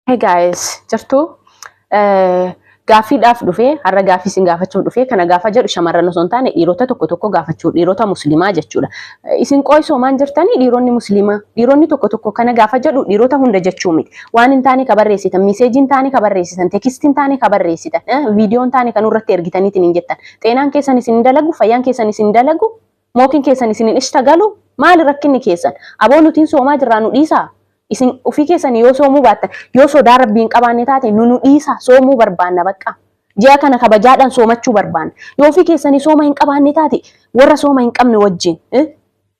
Hey guys, jirtuu? Eh, Gaaffiidhaaf dhufee, har'a gaaffii isin gaafachuuf dhufee, kana gaafa jedhu shamarran osoo hin taane dhiirota tokko tokko gaafachuu, dhiirota musliimaa jechuudha. Eh, Isin qo'isoo maan jirtanii dhiironni musliimaa, dhiironni tokko tokko kana gaafa jedhu dhiirota hunda jechuu miti. Waan hin taane ka barreessitan, miseejii hin taane ka barreessitan, teekistii hin taane ka barreessitan, eh, viidiyoo hin taane kan irratti ergitaniitiin hin jettan. Xeenaan keessan isin hin dalagu, fayyaan keessan isin hin dalagu, Mookin keessan isin hin ishtagalu? Maali rakkinni keessan? Aboo nuti hin soomaa jirraa nu dhiisaa? Isin ufii keessani yoo soomuu baattan, yoo sodaa Rabbii hin qabaanne taate nu nu dhiisaa, soomuu barbaanna baqqaa. Ji'a kana kabajaadhaan soomachuu barbaanna. Yoo ufii keessani sooma hin qabaanne taate warra sooma hin qabne wajjiin eh?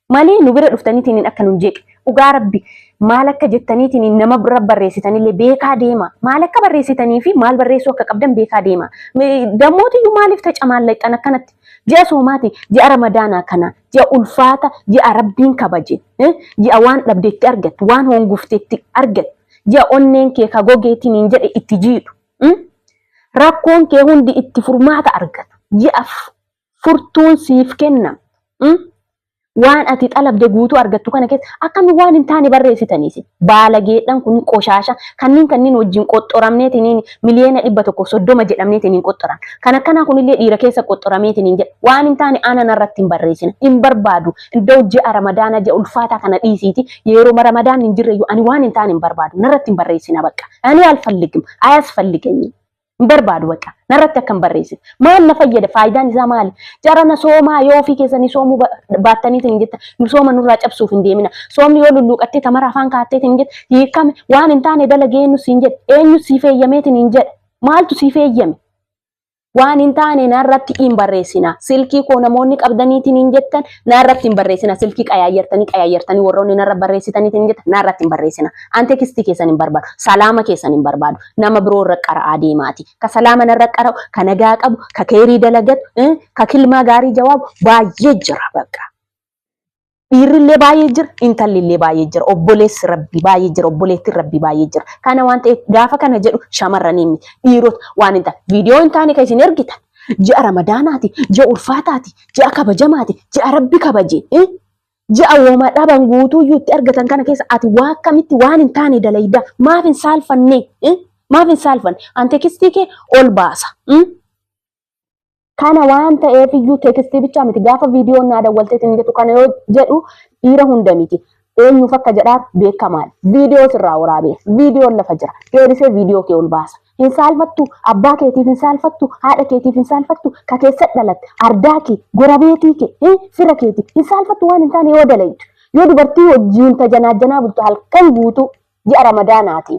Mali nu bira dhuftaniitiin akka nun jeeqe. Dhugaa Rabbi maal akka jettaniitiin nama bira barreessitanillee beekaa deema. Maal akka barreessitanii fi maal barreessuu akka qabdan beekaa deema. Dammootiyyuu maaliif tacamaallaxxan akkanatti? Ji'a soomaati, ji'a ramadaanaa kana, ji'a ulfaata, ji'a rabbiin kabaje, ji'a waan dhabde itti argattu, waan hoongufte itti argattu, ji'a onneen kee ka gogee tiniin jedhe itti jiidhu, rakkoon kee hundi itti furmaata argatu, ji'a furtuun siif kennamtu, Waan ati xalabde guutuu argattu kana keessa akkami waan hin taane barreessitanii isin? Baalageedhan kun qoshaasha kanniin kanniin wajjin qoxxoramneetiniin miliyeena dhibba tokkoof soddoma jedhamneetiniin qoxxoran. Kan akkanaa kunillee dhiira keessa qoxxorameetiniin jedha. Waan hin taane ana narratti hin barreessina. Hin barbaadu. Iddoo ji'a ramadaana ji'a ulfaataa kana dhiisiiti yeroma ramadaanni hin jirreyyuu ani waan hin taane hin barbaadu. Narratti hin barreessina baqqa. Ani alfalligim. Ayasfalligenyim. Hin barbaadu bakka. Narratti akka hin barreessine. Maal na fayyada? Faayidaan isaa maali? Jara na soomaa yoo ofii keessanii soomuu ba- baattaniitiin hin jetta. Nu sooma nurraa cabsuuf hin deemina. Soomni yoo lulluuqattee tamara afaan kaatteetiin hin jetta. Hiikame waan hin taane dalagee eenyu siin jedhe? Eenyu siif eeyyameetiin hin jedhe? Maaltu siif eeyyame? Waan hin taane narratti hin barreessina. Silkii koo namoonni qabdaniitiin hin jettan narratti hin barreessina. Silkii qayaayyartanii qayaayyartanii warroonni narra barreessitaniitiin hin jettan narratti hin barreessina. An tekstii keessan hin barbaadu. Salaama keessan hin barbaadu. nama biroo irra qara'aa deemaati. Ka salaama narra qara'u, ka nagaa qabu, ka keerii dalagatu, eh, ka kilmaa gaarii jawaabu baay'ee jira bakka. Dhiirrillee baay'ee jira, intallillee baay'ee jira, obboleessi rabbi baay'ee jira, obboleettiin rabbi baay'ee jira. Kana waan ta'eef gaafa kana jedhu shamarranii miti, dhiirota waan hin taane. Viidiyoo hin taane kan isin ergitan. Ji'a ramadaanaati, ji'a ulfaataati, ji'a kabajamaati, ji'a rabbi kabaje. eh? Ji'a woma dhaban guutuuyyuu itti argatan kana keessa ati waa akkamitti waan hin taane dalayda maaf hin saalfanne eh? maaf hin saalfanne an tekistii kee ol baasa mm? kana waan ta'eef iyyuu teekistii bichaa miti gaafa viidiyoon naa dawwalteet hin jedhu kana yoo jedhu dhiira hunda miti eenyuuf akka jedhaar beekamaan viidiyoo sirraa waraabee viidiyoon lafa jira deebisee viidiyoo kee ol baasa Hin saalfattu, abbaa keetiif hin saalfattu, haadha keetiif hin saalfattu, ka keessatti dhalatte, ardaa kee, gorabeetii kee, eh, fira keetiif hin saalfattu waan hin taane yoo dalaydu. Yoo dubartii wajjiin tajanaajjanaa bultu halkan guutuu ji'a ramadaanaati.